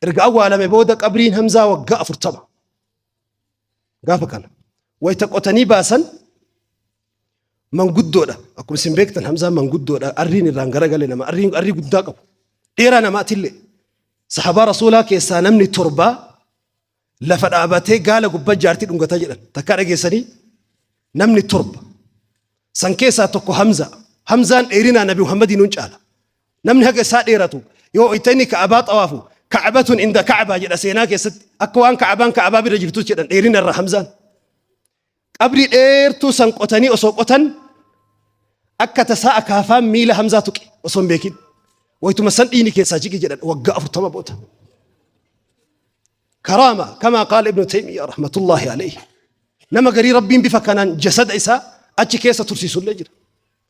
Erga awwaalame booda qabriin Hamzaa waggaa afurtama. Gaafa kana wayita qotanii baasan manguddoodha. Akkuma isin beektan Hamzaan manguddoodha. Arriin irraan garagale nama. Arriin arrii guddaa qabu. Dheeraa namaatillee. Sahabaa Rasuulaa keessaa namni torbaa Lafa dhaabatee gaala gubba jaartii dhungata jedhan takkaa dhageessanii namni torba san keessaa tokko Hamza Hamzaan dheerinaa Nabi Muhammadii nuun caala namni haga isaa dheeratu yoo itti inni ka'abaa xawaafu ka'abatun inda ka'abaa jedha seenaa keessatti akka waan ka'abaan ka'abaa bira jirtus jedhan dheerina irraa Hamzaan Qabrii dheertuu san qotanii osoo qotan akka tasaa akaafaan miila Hamzaa tuqe osoo hin beekin. Waytuma san dhiini keessaa jige jedhan waggaa afurtama booda. Karaama kamaa qaala Ibnu Taymiyaa rahmatullaahi alayhi. Nama garii Rabbiin bifa kanaan jasada isaa achi keessa tursiisullee jira.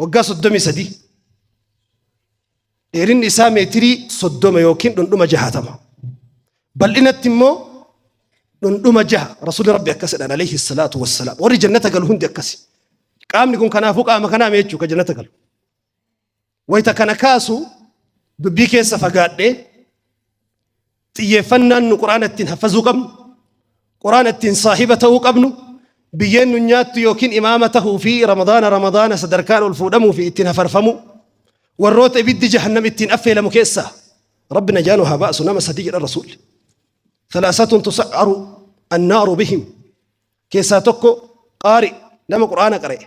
Waggaa 33 dheerinni isaa meetirii 30 yookiin dhundhuma 60 bal'inatti immoo dhundhuma 6 rasuulli rabbi akkas jedhan alayhi salaatu wassalaam warri jannata galu hundi akkasi qaamni kun kanaafuu qaama kanaa mee jechuudha jannata galu Wayita kana kaasu dubbii keessa fagaadhee xiyyeeffannaan nu quraana ittiin haffazuu qabnu, quraana ittiin saahiba ta'uu qabnu, biyyeen nu nyaattu yookiin imaama tahuu fi ramadaana ramadaana sadarkaan ol fuudhamuu fi ittiin hafarfamu warroota ibiddi jahannam ittiin affeelamu keessa rabbi najaanu haa baasu nama sadii jedha rasuulli. Salaasatun tusa'aru annaaru bihim keessaa tokko qaari nama quraana qara'e.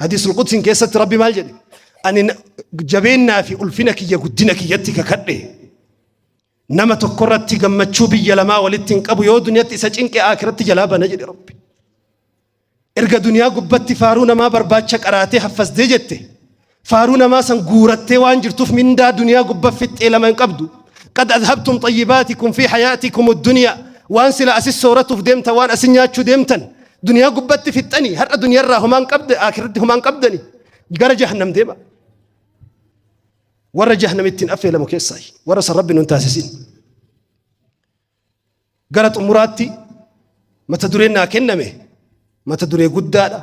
Hadiisul Qudsiin keessatti Rabbi maal jedhe? Ani na- jabeennaa fi ulfina kiyya guddina kiyyatti kakadhe. Nama tokko irratti gammachuu biyya lamaa walitti hin qabu yoo duniyaatti isa cinqe akiratti jalaa bana jedhe Rabbi. Erga duniyaa gubbatti faaruu namaa barbaacha qaraatee haffasdee jette. Faaruu namaa san guurattee waan jirtuuf mindaa duniyaa gubba fixxee lama hin qabdu. Qad adhabtum xayyibaatikum fi hayaatikum duniyaa. Waan sila asis sooratuuf deemtan waan asin nyaachuu deemtan. Duniyaa gubbatti fixxanii har'a duniyarraa homaan qabda akiratti homaan qabdani gara jahannam deema. Warra jahannamittiin affeelamu keessaa warra san rabbi nun taasisin. Gara xumuraatti mata dureen naa kenname mata duree guddaadha.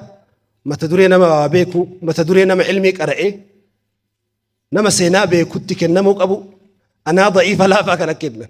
Mata duree nama waa beeku mata duree nama ilmii qara'ee nama seenaa beekutti kennamuu qabu anaa da'iifa laafaa kana kennan.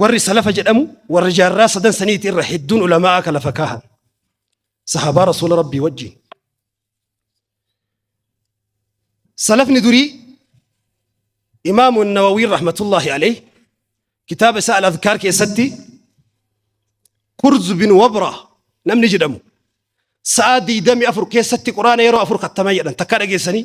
warri salafa jedhamu warra jaarraa sadan saniiti irra hedduun ulamaa'a ka lafa kaahan sahabaa rasuula rabbii wajjiin salafni durii imaamu nawawiin rahmatullaahi alayh kitaaba isaa al-adkaar keessatti kurz bin wabra namni jedhamu sa'a diidami afur keessatti quraana yeroo afur kattama jedhan takka dhageessanii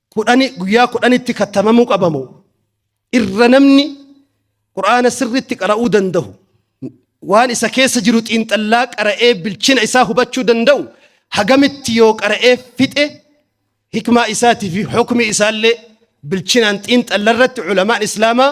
kudhani guyyaa kudhanitti kattamamuu qaba moo irra namni qur'aana sirriitti qara'uu danda'u waan isa keessa jiru xiinxallaa qara'ee bilchina isaa hubachuu danda'u hagamitti yoo qara'ee fixe hikmaa isaatii fi hukmi isaallee bilchinaan xiinxalla irratti culamaan islaamaa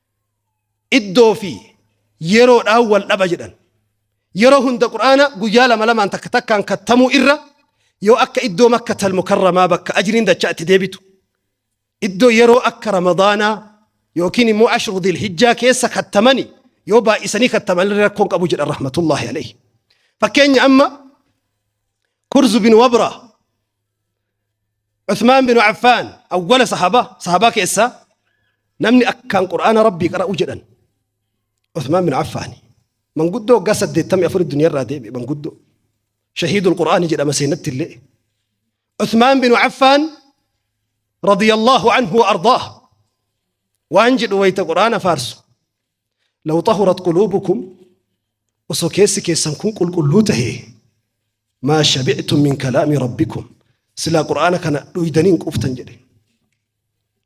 iddoo fi yeroodhaan wal dhaba jedhan. Yeroo hunda Qur'aana guyyaa lama lamaan takka takkaan kattamuu irra yoo akka iddoo Makkatal Mukarramaa bakka ajriin dachaa itti deebitu, iddoo yeroo akka Ramadaanaa yookiin immoo Ashru Dhil Hijjaa keessa kattamani yoo baay'isanii kattaman illee rakkoon qabu jedhan rahmatullahi alayhi. Fakkeenya amma Kurzu bin Wabra Usmaan bin Affaan awwala sahabaa sahabaa keessaa namni akkaan qur'aana rabbii qara'u jedhan Usmaan bin Affaani manguddoo waggaa 84 duniyarraa deeme manguddoo shahiidul qur'aani jedhama seenatti illee Usmaan bin Affaan radiyallahu anhu wa ardaah waan jedhu wayta qur'aana faarsu Law xahurat quluubukum osoo keessi keessan kun qulqulluu tahee maa shabictum min kalaami rabbikum silaa qur'aana kana dhuydanii hin quuftan jedhe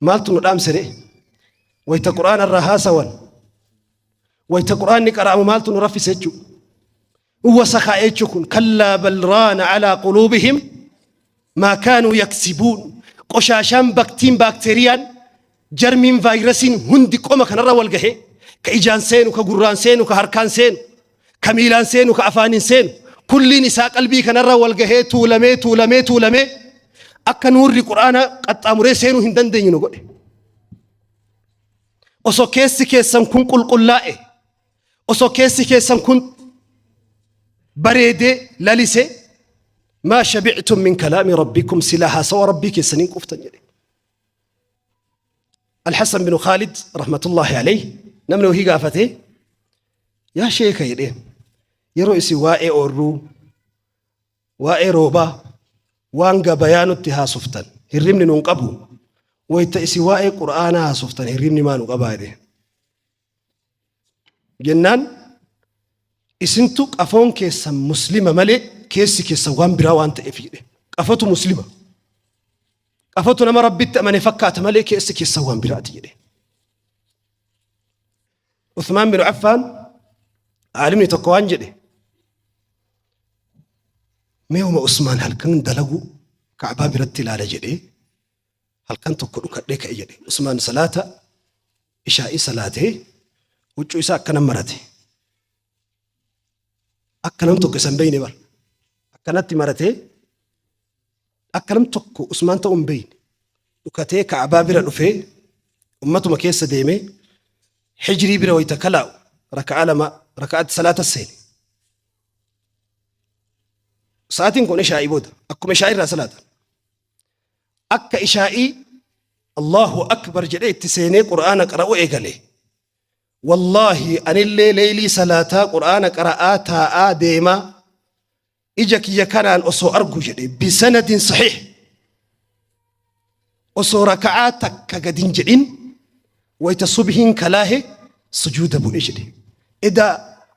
maaltu nu dhaamsere wayta qur'aana irraa haasawan wayta qur'aanni qara'amu maaltu nu raffise jechuu Uwasa kaa jechu kun kallaa bal raana alaa quluubihim maa kaanuu yaksibuun qoshaashaan baktiin baakteeriyaan jarmiin vaayirasiin hundi qoma kanarra wal gahe ka ijaan seenu ka gurraan seenu ka harkaan seenu ka miilaan seenu ka afaaniin seenu kulliin isaa qalbii kanarra wal gahee tuulamee tuulamee tuulamee akka nuurri quraana qaxxaamuree seenuu hin dandeenye nu godhe osoo keessi keessan kun qulqullaa'e Osoo keessi keessan kun bareedee lalise maa shabictum min kalaami rabbikum silaa haasawa rabbii keessaniin quuftan jedhe. Alhassan bin Khaalid rahmatullahi alayhi namni wahii gaafate yaa sheeka jedheen yeroo isin waa'ee oorruu waa'ee roobaa waan gabayaa nutti haasoftan hirribni nun qabu wayta isin waa'ee qura'aanaa haasoftan hirribni maa nu qabaa jedheen. jennaan isintu qafoon keessan muslima malee keessi keessan waan biraa waan ta'eef jedhe qafotu muslima qafotu nama rabbitti amane fakkaata malee keessi keessan waan biraati jedhe Uthmaan bin Affaan aalimni tokko waan jedhe meewuma Usmaan halkan dalaguu kaabaa biratti ilaala jedhee halkan tokko dhukadhee ka'e jedhe Usmaan salaata Ishaa'ii salaatee huccuu isaa akkana marate. Akka nam tokko isa hin beeyne bara. Akkanatti maratee akka nam tokko Usmaan ta'uu hin beeyne. Dhukatee Ka'abaa bira dhufee ummatuma keessa deemee hijrii bira wayita kalaa'u raka'aa lama raka'aatti salaata seene. Sa'aatiin kun ishaa'ii booda akkuma ishaa'ii irraa salaatan. Akka ishaa'ii Allaahu Akbar jedhee itti seenee Qur'aana qara'uu eegale. Wallaahi anillee leeylii salaataa Qur'aana qara'aa taa'aa deemaa ija kiyya kanaan osoo argu jedhe bisanadin sahiih osoo raka'aa takka gad hin jedhin wayta subhiin kalaahe sujuuda bu'e jedhe. Edaa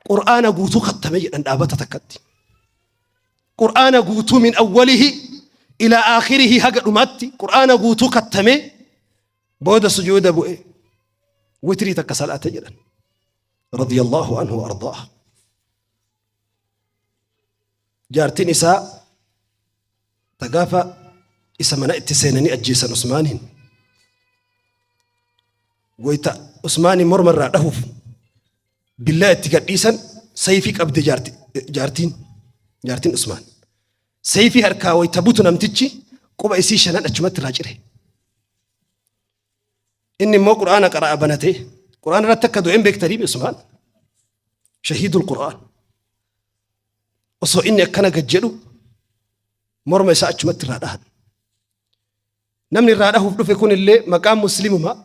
Qur'aana guutuu khattame jedhan dhaabata takkatti. Qur'aana guutuu min awwalihi ilaa aakhirihi haga dhumaatti Qur'aana guutuu kattamee booda sujuuda bu'e witrii takka salaate jedhan radiyallahu anhu ardaa jaartiin isaa ta gaafa isa mana itti seenanii ajjeesan usmaaniin wayta usmaaniin morma irraa dhahuuf Billaa itti gadhiisan sayfii qabde jaarti- jaartiin jaartiin Usmaan. Sayfii harkaa wayita butu namtichi quba isii shanan achumatti irraa cire. Inni immoo quraana qara'a banatee quraana irratti akka du'een beektanii Usmaan. Shahiidul quraan. Osoo inni akkana gad jedhu morma isaa achumatti irraa dhahan. Namni irraa dhahuuf dhufe kun illee maqaan musliimumaa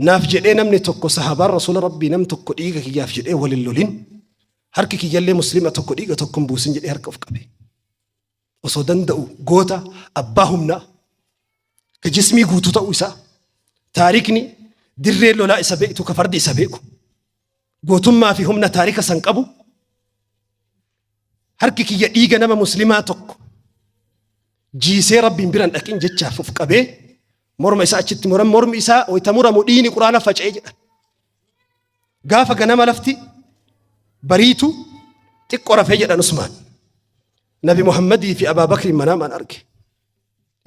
Naaf jedhee namni tokko sahabaan rasuula rabbii nam tokko dhiiga kiyyaaf jedhee wal hin lolin harki kiyyallee muslima tokko dhiiga tokko hin buusin jedhee harka of qabe. Osoo danda'u goota abbaa humnaa ka jismii guutuu ta'uu isaa taarikni dirree lolaa isa beektu ka fardi isa beeku. Gootummaa fi humna taarika san qabu harki kiyya dhiiga nama muslimaa tokko jiisee rabbiin biran dhaqin jechaaf of qabee morma isaa achitti muran mormi isaa wayita muramu dhiini quraana faca'ee jedha. Gaafa ganama lafti bariitu xiqqo rafee jedhan Usmaan. Nabi Muhammadii fi Abaa Bakri manaamaan arge.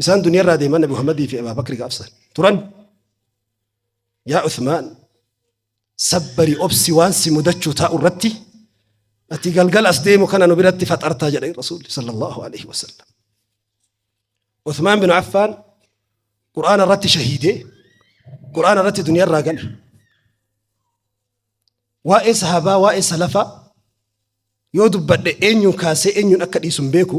Isaan duniyaarraa deeman Nabi Muhammadii fi Abaa Bakri gaafsan turan. Yaa Usmaan Sabbari, obsi, waan si mudachuu taa'u irratti ati galgala as deemu kana nu biratti faxartaa jedhan Rasuulli sallallahu alaihi wasallam. Uthmaan bin Affaan Qur'aana irratti shahiidee Qur'aana irratti duniyaa irraa gale. Waa'ee sahabaa, waa'ee salafaa yoo dubbadhe eenyuun kaasee eenyuun akka dhiisu hin beeku.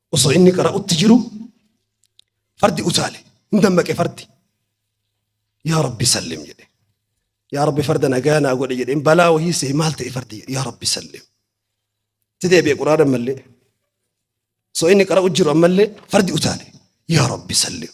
Osoo inni qara'utti jiru fardi utaale. Hin dammaqe fardi. Yaa Rabbi sallim jedhe. Yaa Rabbi farda nagaa naa godhe jedheen balaa wahii sehe maal ta'e fardi yaa Rabbi sallim. Itti deebi'e quraana ammallee. Osoo inni qara'u jiru ammallee fardi utaale. Yaa Rabbi sallim.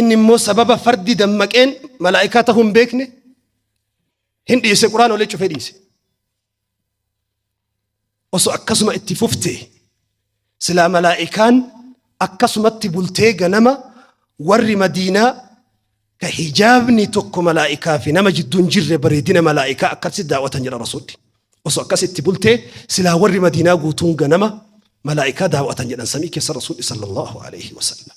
Inni immoo sababa fardi dammaqeen malaa'ikaa ta'uu hin beekne hin dhiise quraan olee cufee dhiise. Osoo akkasuma itti fufte silaa malaa'ikaan akkasumatti bultee ganama warri madiinaa ka hijaabni tokko malaa'ikaa fi nama jidduu hin jirre bareedina malaa'ikaa akkasitti daawwatan jedha rasuulli. Osoo akkas itti bultee silaa warri madiinaa guutuun ganama malaa'ikaa daawwatan jedhan samii keessa rasuulli sallallahu alaihi wasallam.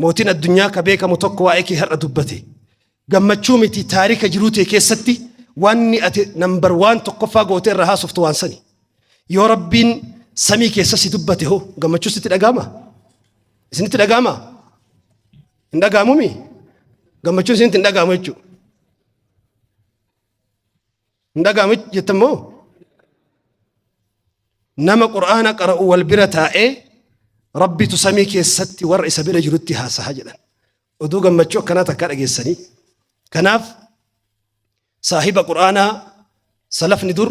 Mootiin addunyaa ka beekamu tokko waa'ee kee har'a dubbate. Gammachuu miti taarika jiruu tee keessatti wanni ati nambar waan tokkoffaa gootee irraa haasoftu waan sani. Yoo rabbiin samii keessa si dubbate hoo gammachuu sitti dhaga'ama? Isinitti dhaga'ama? Hin dhaga'amumi? Gammachuun isinitti hin dhaga'amu jechuudha. Hin dhaga'amu jettan moo? Nama Qur'aana qara'u wal bira taa'ee Rabbitu samii keessatti warra isa bira jirutti haasaha jedhan. Oduu gammachuu akkanaa takkaa dhageessanii. Kanaaf saahiba Qur'aanaa salafni dur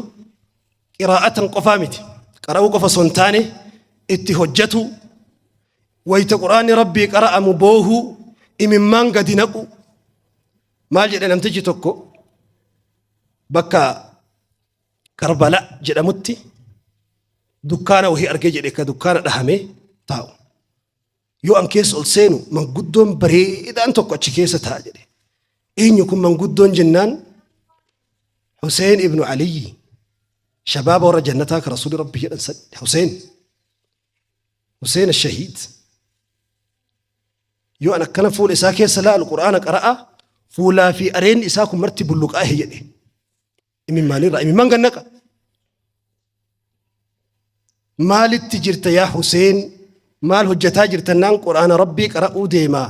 qiraa'atan qofaa miti. Qara'uu qofa osoo hin taane itti hojjetu wayita Qur'aanni Rabbii qara'amu boohuu imimmaan gadi naqu maal jedhe namtichi tokko bakka Karbala jedhamutti dukkaana wahii argee jedhe ka dukkaana dhahamee taa'u. Yoo an keessa ol seenu manguddoon bareedaan tokko achi keessa taa'a jedhe. Eenyu kun manguddoon jennaan Huseen ibnu Aliyyi shabaaba warra jannataa ka Rasuuli Rabbi jedhan san Huseen. Huseen Shahiid yoo an akkana fuula isaa keessa laalu quraana qara'a fuulaa fi areenni isaa kun marti bulluqaahe jedhe imimmaanirraa imimmaan gannaqa maalitti jirta yaa Huseen maal hojjetaa jirta naan quraana rabbii qara'uu deemaa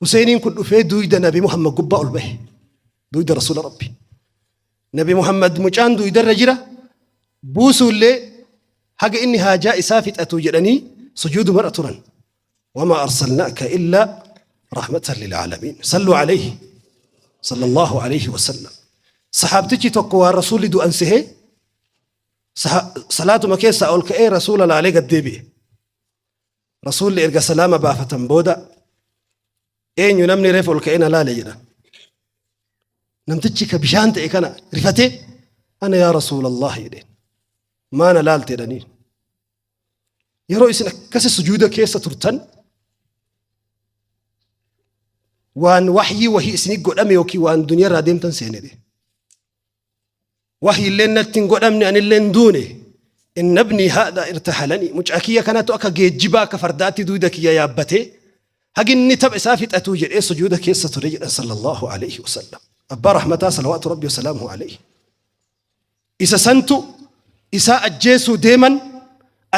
Huseeniin kun dhufee duuyda Nabi Muhammad gubbaa ol bahe. Duuyda Rasuula Rabbi. Nabi Muhammad mucaan duuydarra jira. Buusuullee haga inni haajaa isaa fixatu jedhanii sujuudumarra turan. Wamaa arsalnaaka illaa rahmatan lilaalamiin. Salluu alayhi. Sallallahu alayhi wa sallam. Sahaabtichi tokko waan Rasuulli du'an sehee salaatuma keessaa ol ka'ee Rasuula laalee gad deebi'e. Rasuulli erga salaama baafatan booda eenyu namni reef ol ka'ee na laale jedhan. Namtichi ka bishaan ta'e kana rifatee ana yaa Rasuulallah jedheen. Maa na laalte jedhanii. Yeroo isin akkasi sujuuda keessa turtan waan wahyii wahii isinii godhame yookiin waan duniyaa irraa deemtan seenedhe. Wahyi illeen natti hin godhamne, ani illee hin duune. Inna ibnii haadhaa irtahalanii, mucaa kiyya kanatu akka geejjibaa, akka fardaatti duyda kiyya yaabbatee haga inni tapha isaa fixatuu jedhee sujuuda keessa ture jedhan Sallallaahu aleyhi wa sallam. Abbaa rahmataa salawaatu Rabbii wa salaamuhu aleyhi. Isa santu isaa ajjeesuu deeman,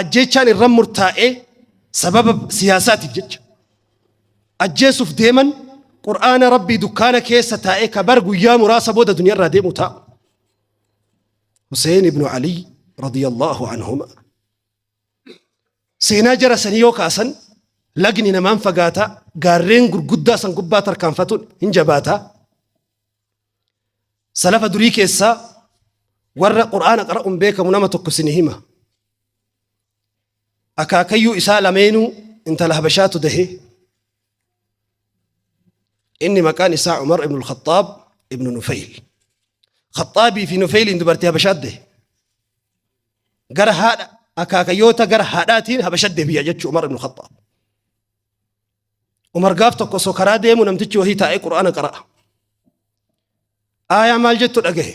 ajjeechaan irra murtaa'ee sababa siyaasaatiif jecha. ajjeesuuf deeman qur'aana rabbii dukkaana keessa taa'ee ka bar guyyaa muraasa booda duniyaarraa deemu ta'a. Huseen ibnu Ali radiyallahu anhuma. Seenaa jara sanii yoo kaasan lagni namaan fagaata gaarreen gurguddaa san gubbaa tarkaanfatuun hin jabaata. Salafa durii keessaa warra qur'aana qara'uun beekamu nama tokko isin hima. akaakayyuu isaa lameenuu intala habashaatu dahe inni maqaan isaa umar ibnu lkhaxaab ibnu nufeyl khaxaabii fi nufeyliin dubartii habashaat dahe gara haadha akaakayyoota gara haadhaatiin habashat deebi'a jechuu umar ibnu khaxaab umar gaaf tokko osoo karaa deemu namtichi wahii taa'ee qur'aana qara'a aayaa maal jettu dhagahe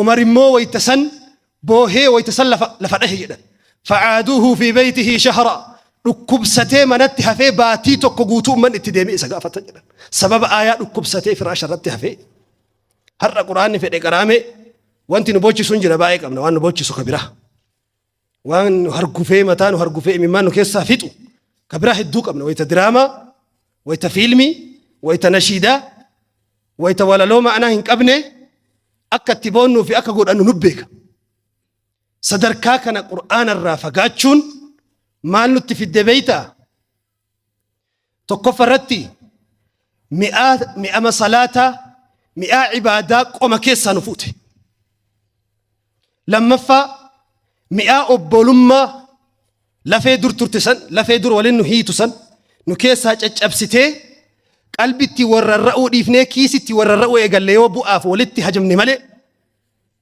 Umar immoo wayta san boohee wayta san lafa lafa dhahe jedhan. Facaaduuhu fi beeytihi shahra dhukkubsatee manatti hafee baatii tokko guutuu ummanni itti deemee isa gaafatan jedhan. Sababa aayaa dhukkubsatee firaasha irratti hafee. Har'a quraanni fedhe qaraamee wanti nu boochisu hin jira baay'ee qabna waan nu boochisu ka biraa. waan nu hargufee mataa nu hargufee imimmaan nu keessaa fixu ka biraa hedduu qabna wayita diraamaa wayita fiilmii wayita nashiidaa wayita walaloo ma'anaa hin qabne akka itti boonnuu fi akka godhannu nu beeka sadarkaa kana qur'aana irraa fagaachuun maal nutti fidde beeyta Tokkoffa irratti mi'aa mi'ama salaataa mi'aa ibaadaa qoma keessaa nu fuute. Lammaffaa mi'aa obbolummaa lafee dur turte san lafee dur waliin nu hiitu san nu keessaa caccabsitee qalbitti warrarra'uu dhiifnee kiisitti warrarra'uu eegalle yoo bu'aaf walitti hajamne malee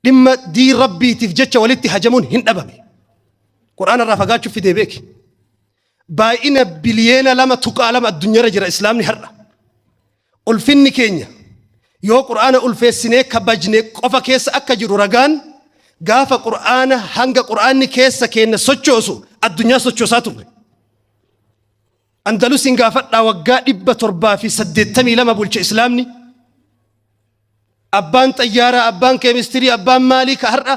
Dhimma diin Rabbiitiif jecha walitti hajamuun hin dhabame. Qur'aana irraa fagaachuuf fidee beeki. Baay'ina biliyeena lama tuqaa lama addunyaarra jira Islaamni har'a. Ulfinni keenya yoo Qur'aana ulfeessinee kabajne qofa keessa akka jiru ragaan gaafa Qur'aana hanga Qur'aanni keessa keenya sochoosu addunyaa sochoosaa turre. Andalusiin gaafadhaa waggaa dhibba torbaa fi saddeettamii lama bulche Islaamni. Abbaan xayyaaraa, abbaan keemistirii, abbaan maalii ka har'a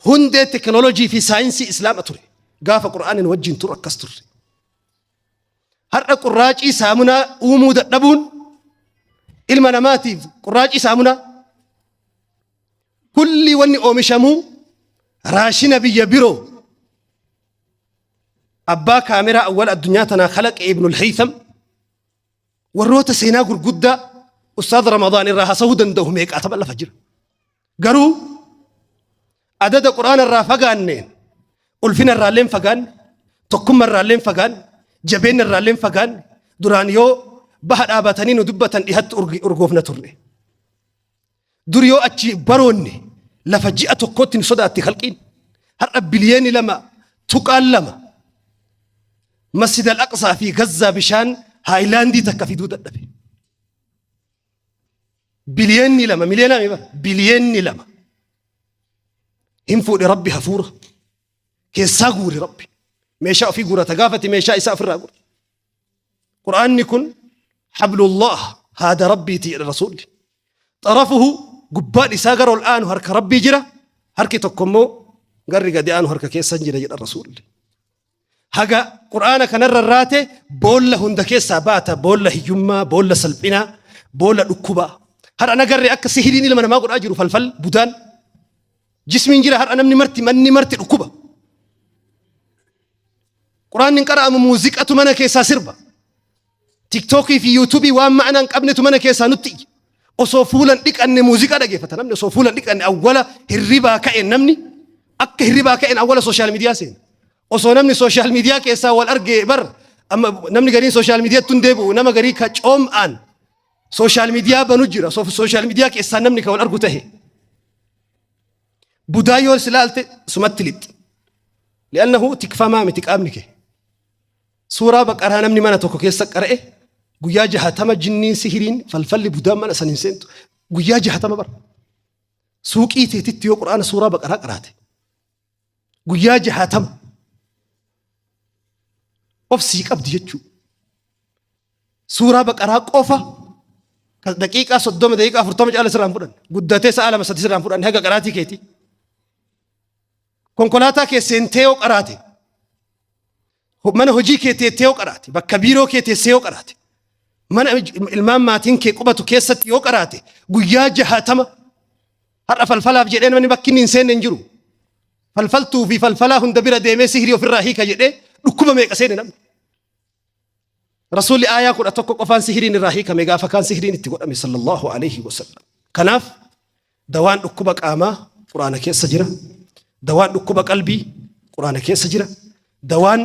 hundee teknoolojii fi saayinsii islaama ture. Gaafa qur'aanin wajjin turu akkas turre. Har'a qurraacii saamunaa uumuu dadhabuun ilma namaatiif qurraacii saamunaa kulli wanni oomishamuu raashina biyya biroo abbaa kaameraa awwal addunyaa tanaa kalaqa ibnul haytham Warroota seenaa gurguddaa Ustaaz Ramadaan irraa haasa'uu danda'u meeqaa tapha lafa jira. Garuu adada quraana irraa fagaanneen ulfina irraa illee hin fagaanne tokkummaa irraa illee hin fagaanne jabeenya irraa illee hin fagaanne duraan yoo baha dhaabatanii nu dubbatan dhihatti urgi- urgoofna turre. Dur yoo achi baroonne lafa ji'a tokkootti nu sodaatti khalqiin. Har'a biliyeeni 2.2 Masjid al-Aqsaa fi Gazzaa bishaan haayilaandii takka fiduu dadhabe. Biliyeenni lama miliyoonaa meeqa? Biliyeenni lama. Hin fuudhe rabbi hafuura. Keessaa guure rabbi. Meeshaa ofii guurata gaafati meeshaa isaa ofirraa guure. Qur'aanni kun hablullah haada rabbiiti jedha rasuulli. Xarafuhu gubbaan isaa gara ol aanu harka rabbii jira harki tokko immoo garri gadi aanu harka keessan jira jedha rasuulli. Haga qur'aana kanarra irraate boolla hunda keessaa baata boolla hiyyummaa boolla salphinaa boolla dhukkubaa. Har'a nagarre akka sihiriin ilma namaa godhaa jiru falfal budaan jismiin jira har'a namni marti manni marti dhukkuba. Quraanni hin qara'amu muuziqatu mana keessaa sirba. Tiktookii fi yuutuubii waan ma'anaa hin qabnetu mana keessaa nutti iyya. Osoo fuulan dhiqanne muuziqaa dhageeffata namni osoo fuulan dhiqanne awwala hirribaa ka'een namni akka hirribaa ka'een awwala sooshaal miidiyaa seena. Osoo namni sooshaal miidiyaa keessaa wal argee bar amma namni gariin sooshaal miidiyaatti hin deebi'u nama garii ka coom'aan sooshaal miidiyaa banu jira sooshaal miidiyaa keessaa namni kan wal argu ta'e. Budaa yoo si laalte sumatti lixxi. Li'annahu tikfamaa miti qaamni kee. Suuraa baqaraa namni mana tokko keessa qara'e guyyaa jahatama jinniin sihiriin falfalli budaan mana san hin seentu. Guyyaa jahatama bara. Suuqii teetitti yoo quraana suuraa baqaraa qaraate. Guyyaa jahatama. Obsii qabdi jechuudha. Suuraa baqaraa qofa kan daqiiqaa soddoma daqiiqaa afurtama caala sirraan fudhanne guddatee sa'a lama sadi sirraan fudhanne haga qaraatii keeti. Konkolaataa kee seentee yoo qaraate mana hojii kee teettee yoo qaraate bakka biiroo kee teessee yoo qaraate mana ilmaan maatiin kee qubatu keessatti yoo qaraate guyyaa jahaatama har'a falfalaaf jedhee namni bakki inni hin seenne hin jiru. Falfaltuu fi falfalaa hunda bira deemee sihirii ofirraa hiika jedhee dhukkuba meeqa seene namni. Rasuulli aayaa kudha tokko qofaan sihiriin irraa hiikame gaafa kaan sihiriin itti godhame sallallahu alaihi wasallam. Kanaaf dawaan dhukkuba qaamaa quraana keessa jira. Dawaan dhukkuba qalbii quraana keessa jira. Dawaan